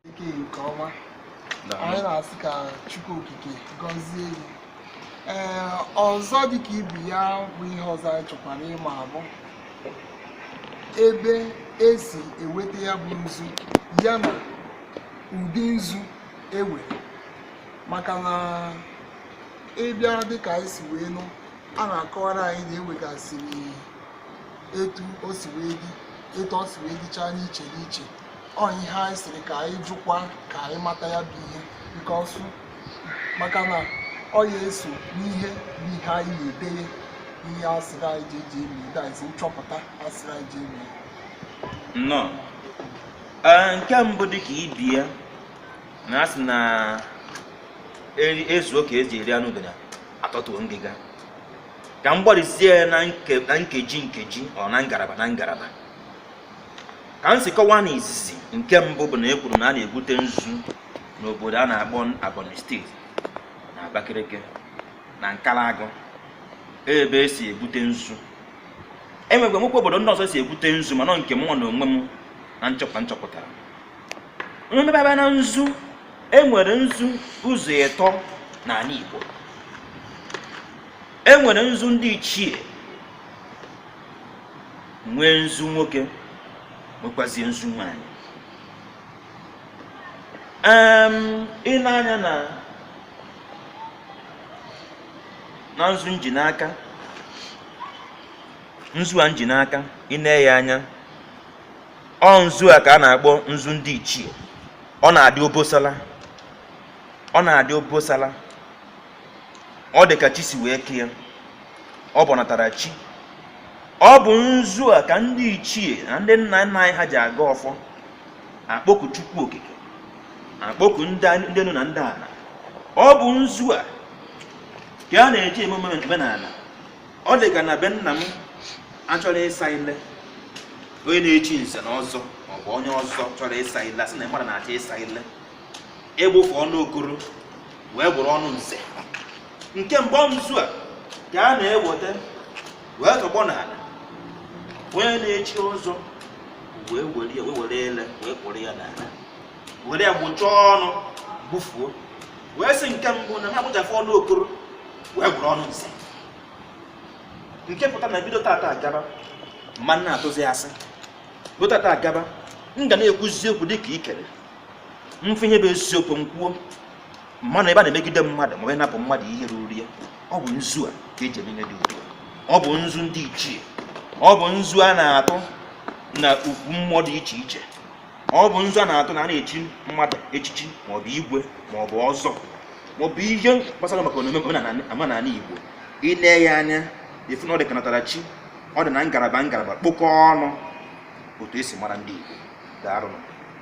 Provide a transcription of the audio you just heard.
ike nke ọma anyị na-asị ka chukwu okike gọzie gị ee ọzọ dịka ibe ya bụ ihe ọzọ anyị chọkwara ịma abụ ebe esi eweta ya bụ nzu ya na ụdị nzu ewere maka na ịbịa dịka anyị si wee nụ a na-akọwara anyị na ewegasịrị etu o si wee dị etu o si wee dịchaa n'iche n'iche ọ ihe anyị sịrị ka anyị jụkwa ka anyị mata ya bụ ihe because maka na ọ ya eso n'ihe bụ ihe anyị na-edeye n'ihe asịrị anyị ji eji eme that is nchọpụta asịrị anyị ji eme nnọọ Ee, nke mbụ dị ka ibe ya na asị na eri- ezuo ka eji eri anụ udene atọtuo ngịga ka m gbarizie ya na nkeji nkeji or na ngalaba na ngalaba ka m si kọwaa na izizi nke mbụ bụ na e kwuru na a na-ebute nzu n'obodo a na-akpọ Ebonyi steeti na Abakaliki na Nkalagụ ebe esi ebute nzu enwekwa nwekwa obodo ndị ọzọ esi ebute nzu mana nke mụnwa na onwe m na nchọpụta nchọpụtara mmebe na nzu e nwere nzu ụzọ ịtọ n'ala Igbo e nwere nzu ndị ichie nwee nzu nwoke nwekwazie nzu nwanyị ị nee anya na na nzu nji n'aka nzu a nji n'aka ị na-ene ya anya ọ nzu a ka a na-akpọ nzu ndị ichie ọ na-adị obosala ọ na-adị obosala ọ dị ka chi si wee kee ọ bụ ọnatara chi ọ bụ nzu a ka ndị ichie na ndị nna nna anyị ha ji agọ ọfọ akpọku chukwu okike akpọku ndị enu na ndị ala ọ bụ nzu a ka a na-eji eme omenala ọ dị ka na be nna m achọrọ ịsa ile onye na-echi nze na ọzọ maọbụ onye ọzọ chọrọ ịsa ile asị na mmadụ na-achọ ịsa ile igbufu ọnụ okoro wee gwụrụ ọnụ nze nke mgbe ọ nzu a ka a na-eweta wee tọgbọ n'ala onye na-echi ọzọ wee were ya wee were ile wee kpụrụ ya n'ala were ya gbụchaa ọnụ gbufuo wee sị nke mbụ na ha gbụchafụ ọnụ okoro wee buru ọnụ nze nke pụta na bido tata agaba m ma na-atụzi asị bido tata agaba m ga na-ekwuzi okwu dịka ikere m fụ ihe bụ eziokwu m kwuo m ma anọ ebe a na-emegide mmadụ ma onye napụ mmadụ ihe ruru ya ọ bụ nzu a ka eji eme ihe dị udo ọ bụ nzu ndị ichie ọ bụ nzu a na-atụ na ukwu mmụọ dị iche iche ọ bụ nzu a na-atụ na a na-echi mmadụ echichi maọbụ igwe maọbụ ọzọ maọbụ ihe gbasara maka omume omenala Igbo i lee ya anya ị fụ na ọ dị ka natara chi ọ dị na ngalaba ngalaba kpokọọ ọnụ otu esi mara ndị Igbo daalụ